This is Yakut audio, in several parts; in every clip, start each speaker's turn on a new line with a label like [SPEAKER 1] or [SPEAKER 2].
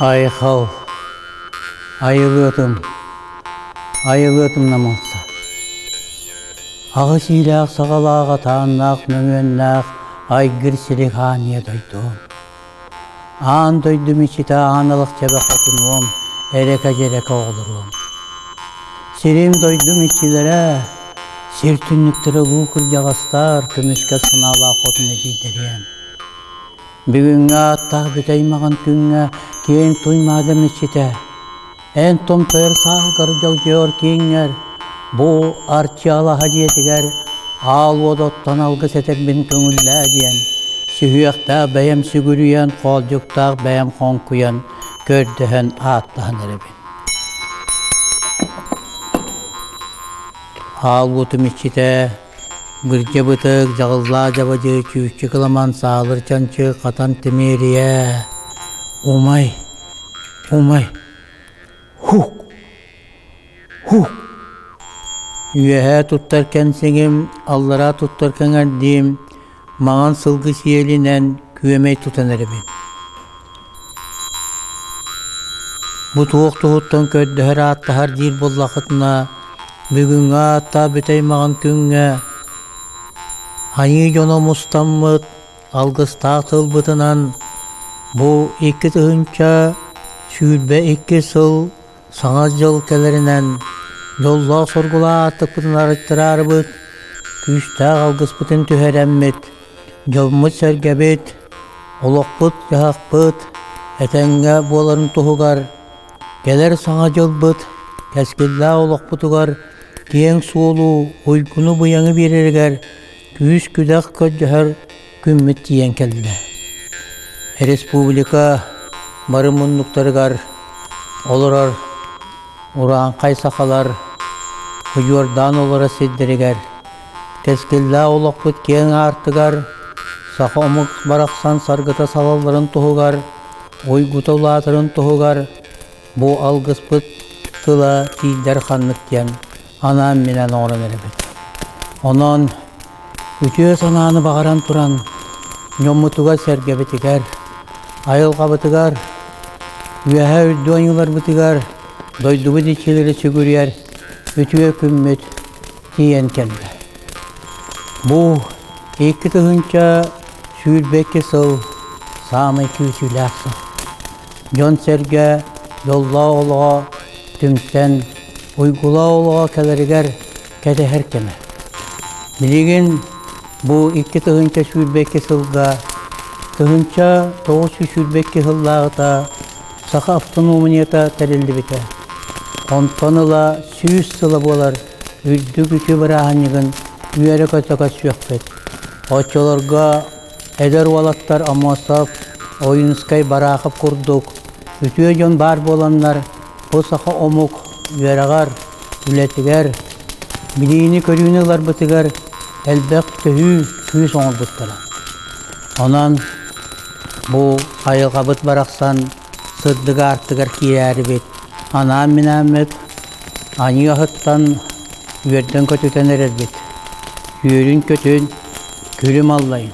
[SPEAKER 1] Айхал, айылыатым, айылыатым намылса. Аҕыс иилээх саҕалаах атааннаах мөҥүөннээх айгыр сири хааньа дойдум. Аан дойду мечети аан алахчаба хотунуом, эрэкэ-дьэрэкэ оҕолоруом. Сирим-дойдум иччилэрэ, сир түннүктэрэ улуу кырдьаҕастар көмүскэ санаалаах хотун эдьийдэриэм. Бүгүҥҥү ааттаах бүтэй аймаҕын күҥҥэ киэҥ туй маада мечетэ, Эн-тон тойор сааһыгар дьогдьоор кииҥҥэр, бу Арчыалаһа дьиэтигэр аал уот оттон алгыс этэрбин көҥүллээ диэн, сүһүөхтээх бэйэм сүгүрүйэн, хоолдьуктаах бэйэм хоҥкуйан, көрдөһөн ааттаһан эрэбин. Аал уотум иччитэ Бырдьа бытык, дьаҕыллаах дьабадьы, чүүччэ кыламан, саалыр чанчы, хатан тимиэрийэ. Умай, умай, һук, һук. Үөһээ туттар кэнсиҥим, аллараа туттар кэҥэрдиим, Маҥан сылгы сиэлинэн күөмэй тутан эрэбин. Бу туох туһуттан көрдөһөр ааттаһар диир буоллахытына, бүгүҥҥү аата бүтэй маҕан күҥҥэ айыы дьоно мустаммыт алгыстаах тылбытынан бу икки тыһыынча сүүрбэ икки сыл Саҥа дьыл кэлэринэн дьоллоох сургулаах аартыкпытын арыттараарыбыт, күүстээх алгыспытын түһэрэммит, дьоммут-сэргэбит, олохпут-дьаһахпыт этэҥҥэ буоларын туһугар, кэлэр саҥа дьылбыт кэскиллээх олохпутугар киэҥ суолу, уйгуну-быйаҥы биэрэригэр күүс-күдэх көрдөһөр күммүт тиийэн кэллэ. Республика бары муннуктарыгар олорор урааҥхай сахалар Удьуордаан олорор сирдэригэр кэскиллээх олохпут киэҥ аартыгар саха омук барахсан саргыта салалларын туһугар уйгута улаатарын туһугар бу алгыспыт тыла тиийдэр ханнык диэн анаан-минээн оҥорон эрэбит. Онон үтүө санааны баҕаран туран дьоммутугар-сэргэбитигэр, айылҕабытыгар, үөһэ үрдү ойууларбытыгар дойдубут иччилэрэ сүгүрүйэр үтүө күммүт тиийэн кэллэ. Бу икки тыһыынча сүүрбэкки сыл саамай күүсүүлээх сыл. Дьон-сэргэ дьоллоох олоҕо түмсэн Уйгулаа олоҕо кэлэригэр кэтэһэр кэмэ. Билигин бу икки тыһыынча сүүрбэкки сылга тыһыынча тоҕус сүүс сүүрбэкки сыллааҕыта саха автономията тэриллибитэ. Онтон ыла сүүс сыла буолар үрдүк үтүө бырааһынньыгын үөрэ-көтө көрсүөхпүт. Оччолорго Эдэр уолаттар Омосов, Ойуунускай Бараахап курдук үтүө дьон баар буоланнар, бу саха омук үөрэҕэр, үлэтигэр, билиини-көрүүнү ыларбытыгар элбэх төһүү күүс оҥорбуттара. Онон бу айылҕабыт барахсан сырдык аартыгар киирээрибит анаан-минааммыт аньыы аһыттан үөрдэн-көтүтэн эрэрбит күөлүн-көтүн, күлүм аллайын,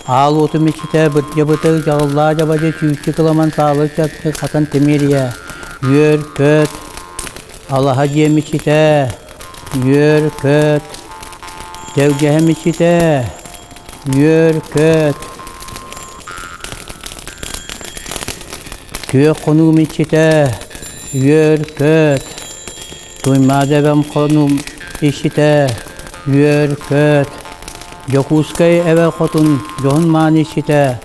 [SPEAKER 1] аал уотум иччитэ бырдьа-бытык дьаҕыллаах дьабадьы түүччү кыламан саалы чапчы хатан тимиэрийэ үөр көт, алаһа дьиэм иччитэ үөр көт, дэгдьэһэм иччитэ Ньүөркөөт Күөх хонуум иччитэ Үөркөөт Туймаада эбэм хонуум иччитэ Үөркөөт Дьокуускай эбэ хотун дьоһун-маан иччитэ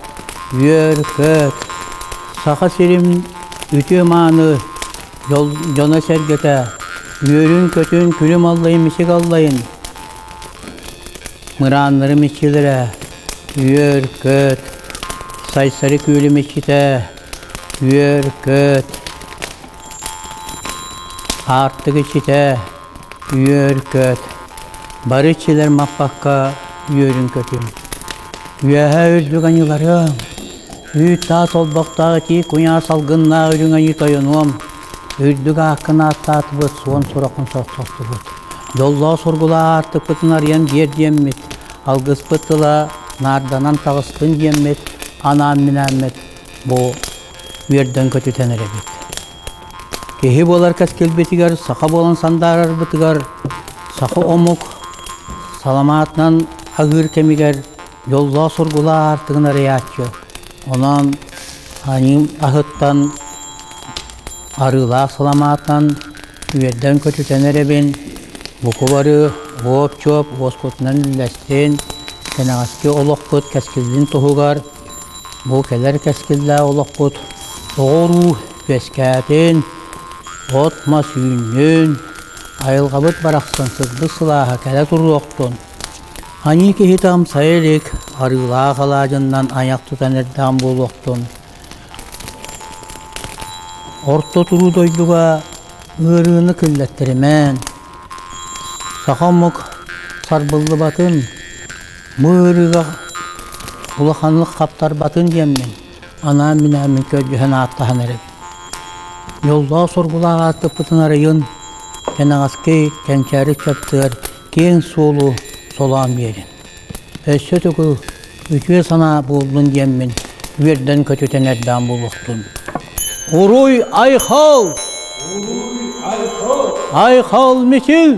[SPEAKER 1] Үөркөөт Саха сирим үтүө-мааны дьоно-сэргэтэ үөрүн-көтүн күнүм аллайын-мичиг аллайын Мырааннары мичилэрэ, үөр, көт, Сайсары күөлү мичитэ, үөр, көт, аартык ичитэ, үөр, көт, бары ичилэр маппакка үөрүн көтүм. Үөһэ үрдүгanyыларыам, үүт-таас олбохтоох итии куйаа салгыннаах үрүҥ айыы тойонуом, Үрдүк ааккын ааттаатыбыт, суон сураххын сохсостубут. Доллоҕу сургула аартыкпытын арыйан биэр диэммит, алгыспыт тыла наарданан таҕыстын диэммит, анаан-минээммит бу үөрдэн көтүтэн эрэбит. Киһи буолар кэскилбитигэр, саха буолан сандаарарбытыгар саха омук саламаатынан аһыыр кэмигэр дьоллоох-соргулаах аартыгын арыйааччы. Онон Аньыым аһыттан арыылаах саламаатан үөрдэн көтүтэн эрэбин, букубары, оп-чоп уоскутунан үллэстин, кэнэҕэски олохпут кэскиллин туһугар бу кэлэр кэскиллээх олохпут оҕо-уруу үөскээтин, от-мас үүннүн, айылҕабыт барахсан сырдык сылааһа кэлэ туруохтун! Аньыы киһитам сайа илик арыылаах алаадьыннан айах тутан эрдэҕим буолуохтун. Орто туруу дойдуга ыарыыны киллэттэримээн, саха омук сарбыллыбатын, бу ыарыыга улаханнык хаптарбатын диэммин, анаан-минээн мин көрдьүһэн ааттаһан эрэбин дьоллоох-соргулаах ааттаппытын арыйан кэнэҕэски кэнчээри чаттыгар киэҥ суолу солоон биэрин өссө тугу үтүө санаа буоллун диэммин үөрдэн көтүтэн эрдэҕим буолуохтун уруй айхал айхал мичил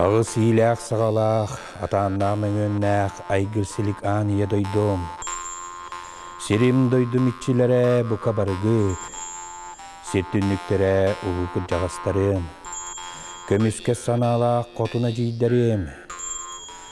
[SPEAKER 1] Аҕыс иилээх-саҕалаах, атааннаах мөҥүөннээх айгыр-силик аан ийэ дойдум, сирим дойдум иччилэрэ бука барыгыт, сир түннүктэрэ улуу кырдьаҕастарым, көмүскэ санаалаах хотун эдьиийдэрим,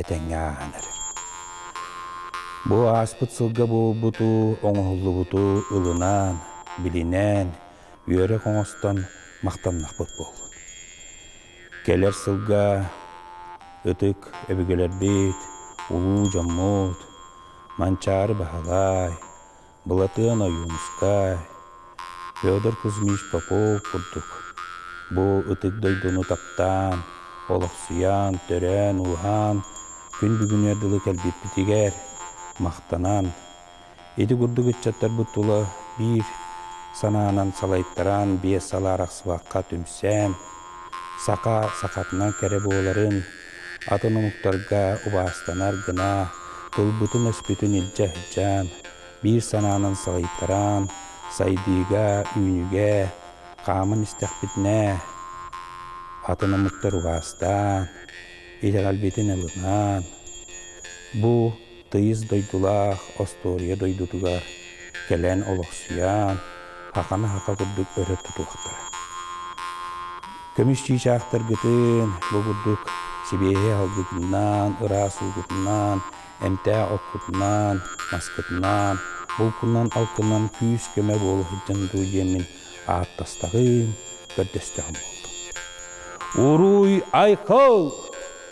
[SPEAKER 1] этэҥҥэ ааһан эрэр. Бу ааспыт сылга буолбуту, оҥоһуллубуту ылынан, билинэн, үөрэх оҥостон махтаннахпыт буоллун. Кэлэр сылга ытык өбүгэлэрбит, улуу дьоммут Манчаары Баһылай, Былатыан Ойуунускай, Федор Кузьмич Попов курдук бу ытык дойдуну таптаан, олохсуйан, төрөөн-ууһаан күн бүгүнүгэр дылы кэлбиппитигэр махтанан, ити курдук ыччаттарбыт тула биир санаанан салайтаран биэс сыл арахсыбакка түмсэн, саха сахатынан кэрэ буоларын, Атын омуктарга убаастанар гына тылбытын-өспүтүн илдьэ сылдьан, биир санаанан саҕыйтаран, сайдыыга, үүнүүгэ хааман истэхпитинэ, атын омуктар убаастаан, итэҕэлбитин ылынан, бу тыйыс дойдулаах остуоруйа дойдутугар кэлэн олохсуйан, хахана-хаха курдук өрө тутуохтара. Көмүсчүү чаахтаргытын бу курдук сибиэһэй алгытынан, ыраас уутутунан, эмтээх оккутунан, маскытынан, булкунан-алкынынан күүс-көмө буола сылдьан дуу диэммин ааттастаҕым, көрдөстөҕүм буолду. Уруй, Айкыл!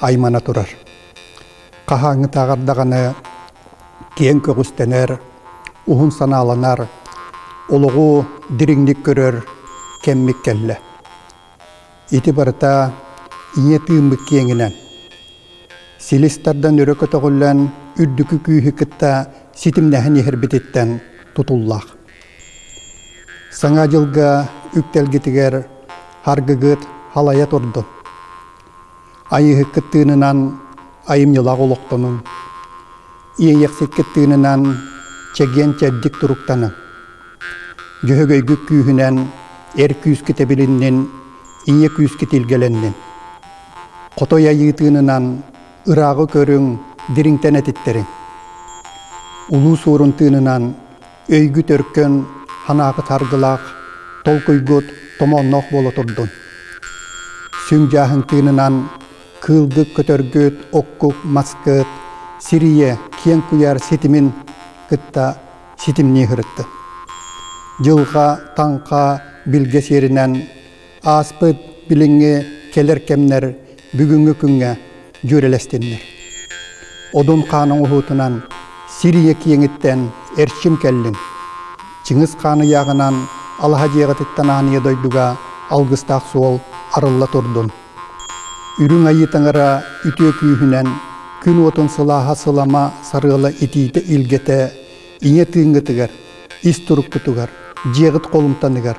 [SPEAKER 1] аймана турар. Хаһааҥҥытааҕар даҕаны киэҥ көҕүстэнэр, уһун санааланар, олоҕу дириҥник көрөр кэммит кэллэ. Ити барыта ийэ тыыммыт киэҥинэн. Силис тардан өрө көтөҕүллэн үрдүкү күүһү кытта ситимнэһэн иһэрбититтэн тутуллаах. Саҥа дьылга үктэлгитигэр харгыгыт халайа турдун. Айыыһыккыт тыынынан айымньылаах олохтонуҥ. Иэйэхсиккит тыынынан чэгиэн-чэбдик туруктаныҥ. Дьөһөгөйгүт күүһүнэн эр күүскүт эбилиннин, ийэ күүскүт илгэлэннин. Хотой айыы тыынынан ырааҕы көрүҥ, дириҥтэн этиттэриҥ. Улуу Суорун тыынынан өйгү төркөн, санаакыт аргылаах, толкуйгут томоонноох буола турдун. Сүҥ дьааһын тыынынан кыылгыт көтөргүт оккук маскыт сирийэ киэҥ куйаар ситимин кытта ситимнии сырытты. Дьылҕа, таҥха билгэ сиэринэн Ааспыт билиҥҥи кэлэр кэмнэр бүгүҥҥү күҥҥэ дьүөрэлэстиннэр. Одун хаан оҥоһуутунан сир ийэ киэҥиттэн эрчим кэллин. Чыҥыс хаан ыйааҕынан алаһа дьиэҕититтэн аан ийэ дойдуга алгыстаах суол арылла турдун. Үрүҥ Айыы таҥара үтүө күүһүнэн күн уотун сылааһа сылама сарыала итиитэ-илгэтэ ийэ тыыҥҥытыгар, ис туруккутугар, дьиэҕит холумтаныгар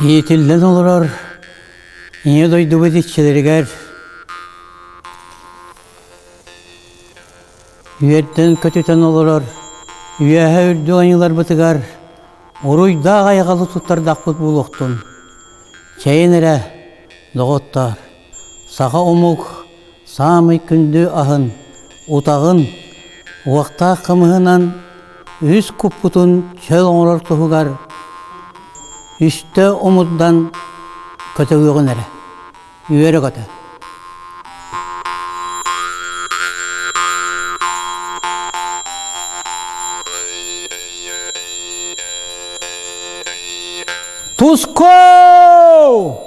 [SPEAKER 1] Иитиллэн олорор Ийэ дойдубут иччилэригэр үөрдэн көтүтэн олорор үөһэ үрдүк айыыларбытыгар уруйдаах айаҕалы туттардахпыт буолуохтун чэйин эрэ доҕоттоор Саха омук саамай күндү аһын, утаҕын, уоттаах хымыһынан үһүс куппутун чөл оҥорор туһугар үстэ омурдан көтөҕүөҕүн эрэ, үөрэ-көтө. Туску!